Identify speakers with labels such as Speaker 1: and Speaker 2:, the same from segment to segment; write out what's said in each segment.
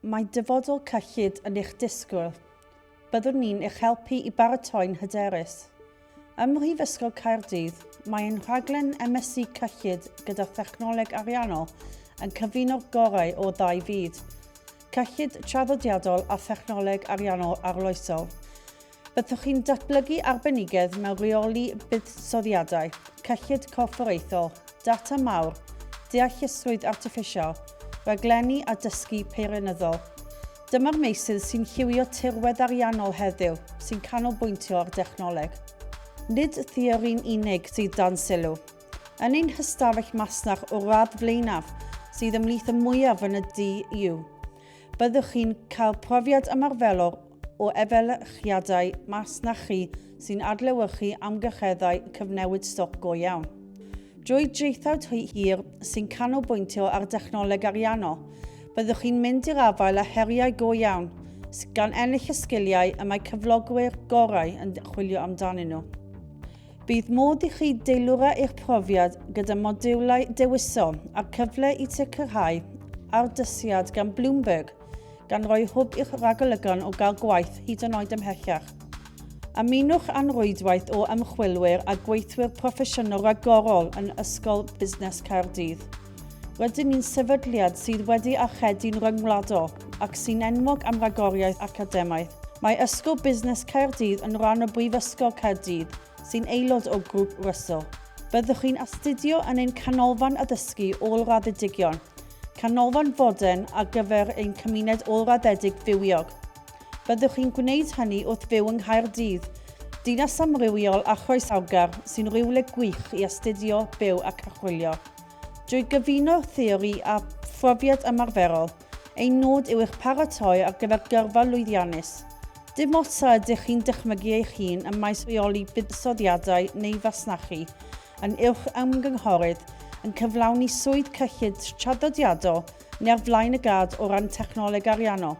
Speaker 1: Mae dyfodol cyllid yn eich disgwyl. Byddwn ni'n eich helpu i baratoi'n hyderus. Ym Mhrifysgol Caerdydd, mae ein rhaglen MSc Cyllid gyda Thechnoleg Ariannol yn cyfuno'r gorau o ddau fyd, cyllid traddodiadol a thechnoleg ariannol arloesol. Byddwch chi'n datblygu arbenigedd mewn rheoli buddsoddiadau, cyllid corfforaethol, data mawr, deallusrwydd artiffisial, rhaglenni a dysgu peirianyddol. Dyma'r meysydd sy'n lliwio tirwedd ariannol heddiw sy'n canolbwyntio ar dechnoleg. Nid theori'n unig sydd dan sylw. Yn ein hystafell masnach o'r radd flaenaf, sydd ymhlith y mwyaf yn y du, byddwch chi'n cael profiad ymarferol o efelychiadau masnachu sy'n adlewyrchu amgylcheddau cyfnewid stoc go iawn. Drwy draethawd hir sy'n canolbwyntio ar dechnoleg ariannol, byddwch chi'n mynd i'r afael â heriau go iawn, gan ennill y sgiliau y mae cyflogwyr gorau yn chwilio amdanyn nhw. Bydd modd i chi deilwra eich profiad gyda modiwlau dewisol a'r cyfle i sicrhau ardysiad gan Bloomberg gan roi hwb i'ch ragolygon o gael gwaith hyd yn oed ymhellach. Ymunwch â'n rwydwaith o ymchwilwyr a gweithwyr proffesiynol ragorol yn Ysgol Busnes Caerdydd. Rydyn ni'n sefydliad sydd wedi archedu'n ryngwladol ac sy'n enwog am ragoriaeth academaidd. Mae Ysgol Busnes Caerdydd yn rhan o Brifysgol Caerdydd, sy'n aelod o Grŵp Russell. Byddwch chi'n astudio yn ein canolfan addysgu ôl-raddedigion, Canolfan fodern ar gyfer ein cymuned ôl-raddedig fywiog. Byddwch chi'n gwneud hynny wrth fyw yng Nghaerdydd, dinas amrywiol a chroesawgar sy'n rywle gwych i astudio, byw ac archwilio. Drwy gyfuno theori a phrofiad ymarferol, ein nod yw eich paratoi ar gyfer gyrfa lwyddiannus. Dim ots a ydych chi'n dychmygu eich hun ym maes rheoli buddsoddiadau neu fasnachu, yn uwch ymgynghorydd yn cyflawni swydd cyllid traddodiadol neu ar flaen y gad o ran technoleg ariannol.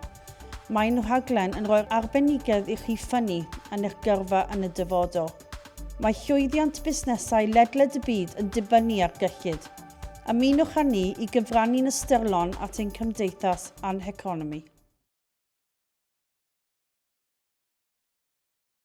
Speaker 1: Mae'n rhaglen yn rhoi'r arbenigedd i chi ffynnu yn eich gyrfa yn y dyfodol. Mae llwyddiant busnesau ledled y byd yn dibynnu ar gyllid. Ymunwch â ni i gyfrannu'n ystyrlon at ein cymdeithas a'n heconomi.